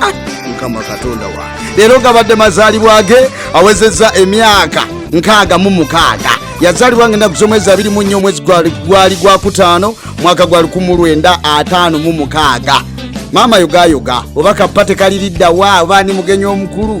ah, mukama katonda wa leero gabadde mazaalibwa ge awezezza emyaka nkaaga mu mukaaga yazaalibwa nga ennaku z'omwezi abiri mu nnya omwezi gwali gwa kutaano mwaka gwa lukumu lwenda ataano mu mukaaga maama yogayoga oba kappa tekaliriddawa oba ni mugenyi omukulu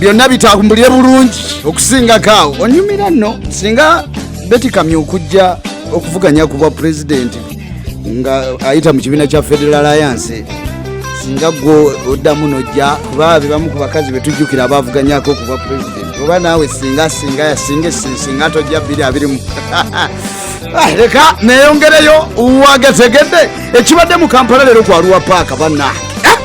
byonna bitambulire bulungi okusingako awo onyumira nno singa betikamya okujja okuvuganya ku bwa pulezidenti nga ayita mu kibiina kya federal alliance singa gwe oddamu nojja kuba bebamu ku bakazi betujjukira abavuganyako ku bwa pulezidenti oba naawe singa singa yasinga esinsinga tojja biri abirimu ah, leka neyongereyo wagetegedde ekibadde mu kampala leero kwaluwa paaka banna eh,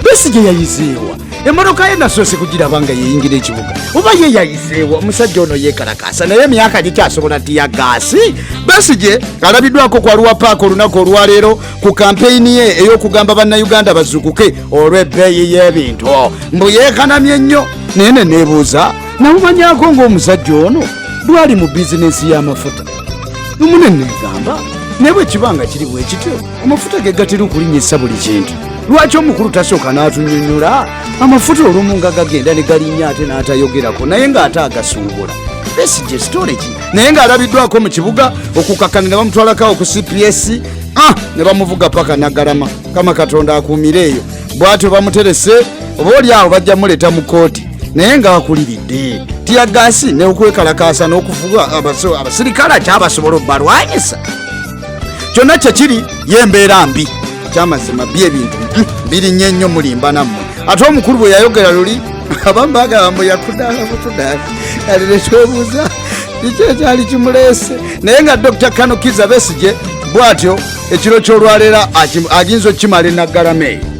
besigye yayizeewa emmotoka ye nasoose kugiraba nga yeyingira ekibuga oba ye yayiseewo omusajja ono yekalakaasa naye emyaka gikyasobola tiya gaasi besigye alabiddwako ku aluwa paaka olunaku olwaleero ku kampeyini ye ey'okugamba bannayuganda bazukuke olw'ebbeeyi y'ebintu mbu yeekanamye nnyo naye ne neebuuza namumanyako ng'omusajja ono bwali mu bizinensi y'amafuta omuneneegamba naye bwe kiba nga kiri bwekityo amafuta gegatera okulinnya essa buli kintu lwaki omukulu tasooka n'atunyonyola amafuta olumu nga gagenda ne galinnya ate n'atayogerako naye ng'ate agasuubula besigye storage naye ng'alabiddwako mu kibuga okukakkana ne bamutwalakawo ku cps ah, ne bamuvuga paka nagalama kama katonda akuumire eyo bw'atyo bamuterese oba oli awo bajja muleeta mu kooti naye ng'akuliridde tiyagaasi ne okwekalakaasa n'okuvuga abasirikale akyabasobola obalwanyisa kyonna kyekiri ye mbeera mbi kyamazima bi ebintu hmm, birinye ennyo mulimba nammwe ate omukulu bwe yayogera luli abamu bagamba mbu yakudaala butudaala kati netwebuuza kiki ekyali kimuleese naye nga dr kano kiza besigye bwatyo ekiro ky'olwaleero aginza okukimala enaggalameeyo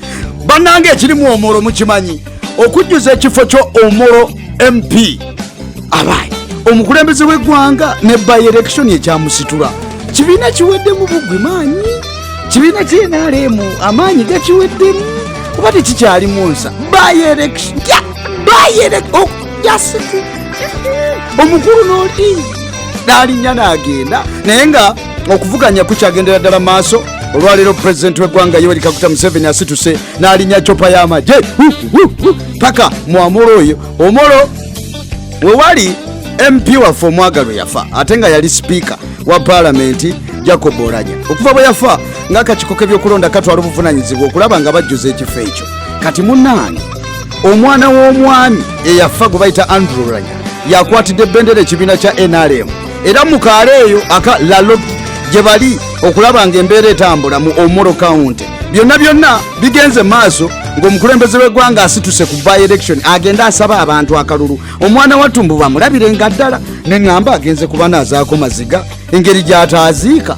bannanga ekirimu omoro mukimanyi okujjuza ekifo kyo omoro mp abaye omukulembeze w'eggwanga ne by election ekyamusitula kibiina kiweddemu bugwi maanyi kibiina kyenaleemu amaanyi gakiweddemu kuba tekikyalimu nsa by election omukulu noli nalinya nagenda naye nga okuvuganya kukyagendera ddala maaso olwaleero pulezidenti w'eggwanga yoweri kaguta museveni asituse n'alinya copa y'amagye paka mwamolo oyo omolo wewali mp waffe omwagalwe yafa ate nga yali sipiika wa paalamenti jacob olanya okuva bwe yafa ng'akakiiko k'ebyokulonda katwala obuvunanyizibwa okulaba nga bajjuza ekifo ekyo kati munaani omwana w'omwami eyafa gwe bayita andrew olanya yakwatidde bendera ekibiina kya nrm era mu kaalo eyo aka lalo gye bali okulaba nga embeera etambula mu omoro county byonna byonna bigenze maaso ng'omukulembeze w'eggwanga asituse ku by election agenda asaba abantu akalulu omwana watumbu bamulabire nga ddala neŋŋamba agenze kuba naazaako maziga engeri gy'ataaziika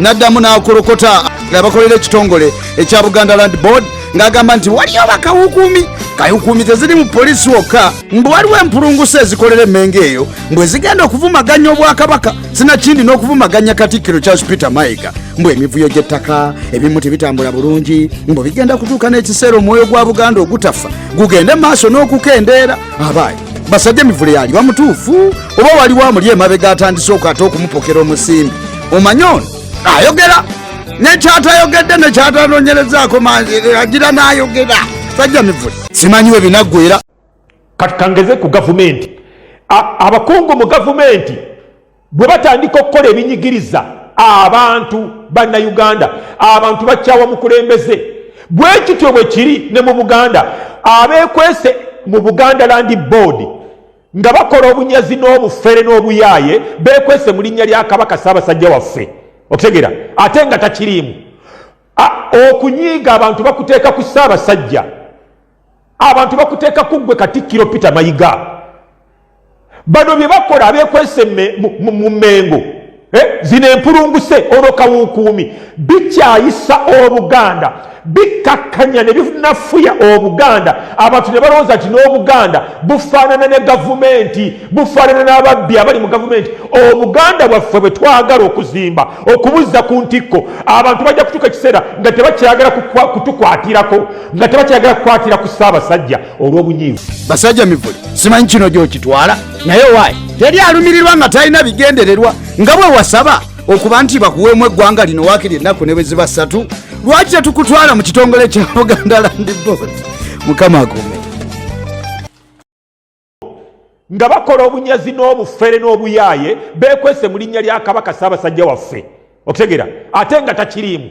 n'addamu n'akolokota abakolera ekitongole ekya buganda land board ng'agamba nti waliyo bakawukuumi kayukuumi teziri mu poliisi wokka mbu waliwo empulungusa ezikolera emmengo eyo mbu ezigenda okuvumaganya obwakabaka sinakindi n'okuvumaganya katikkiro charles peter mayiga mbu emivuyo gy'ettaka ebimu tebitambula bulungi mbu bigenda kutuuka n'ekiseera omwoyo gwa buganda ogutafa gugende maaso n'okukendeera abaayi basajja emivule yali bamutuufu oba waliwo amuli emabega atandise okwata okumupokera omusimbi omanyi ono ayogera nekyatayogedde nekyatanonyerezaako manzi agira nayogera sajja mivule simanyi we binaggwera kati kangeze ku gavumenti abakungu mu gavumenti bwe batandika okukola ebinyigiriza abantu bannayuganda abantu bakyawa mukulembeze bwe kityo bwe kiri ne mu buganda abeekwese mu buganda landi boodi nga bakola obunyazi n'obufere n'obuyaaye beekwese mu linnya lya kabaka ssaabasajja waffe okutegera ate nga takiriimu okunyiiga abantu bakuteeka ku ssaabasajja abantu bakuteeka ku ggwe katikkiro peter mayiga bano bye bakola abeekwese mu mengo Eh, zino empulunguse olwo kawuukuumi bikyayisa obuganda bikkakkanya ne binafuya obuganda abantu ne balowooza nti n'obuganda bufaanana ne gavumenti bufaanana n'ababbi abali mu gavumenti obuganda bwaffe bwe twagala okuzimba okubuzza ku ntikko abantu bajja kutuuka ekiseera nga tebakyagala kutukwatirako nga tebakyagala kukwatira ku ssaabasajja olw'obunyiivu basajja mivule simanyi kino gyokitwala naye owaye teri alumirirwa nga talina bigendererwa nga bwe wasaba okuba nti bakuweemu eggwanga lino waakiri ennaku ne bwe ziba ssatu lwaki tetukutwala mu kitongole kya buganda land board mukama akume nga bakola obunyazi n'obufere n'obuyaaye beekwese mu linnya lya kabaka ssaabasajja waffe okutegeera ate nga takiriimu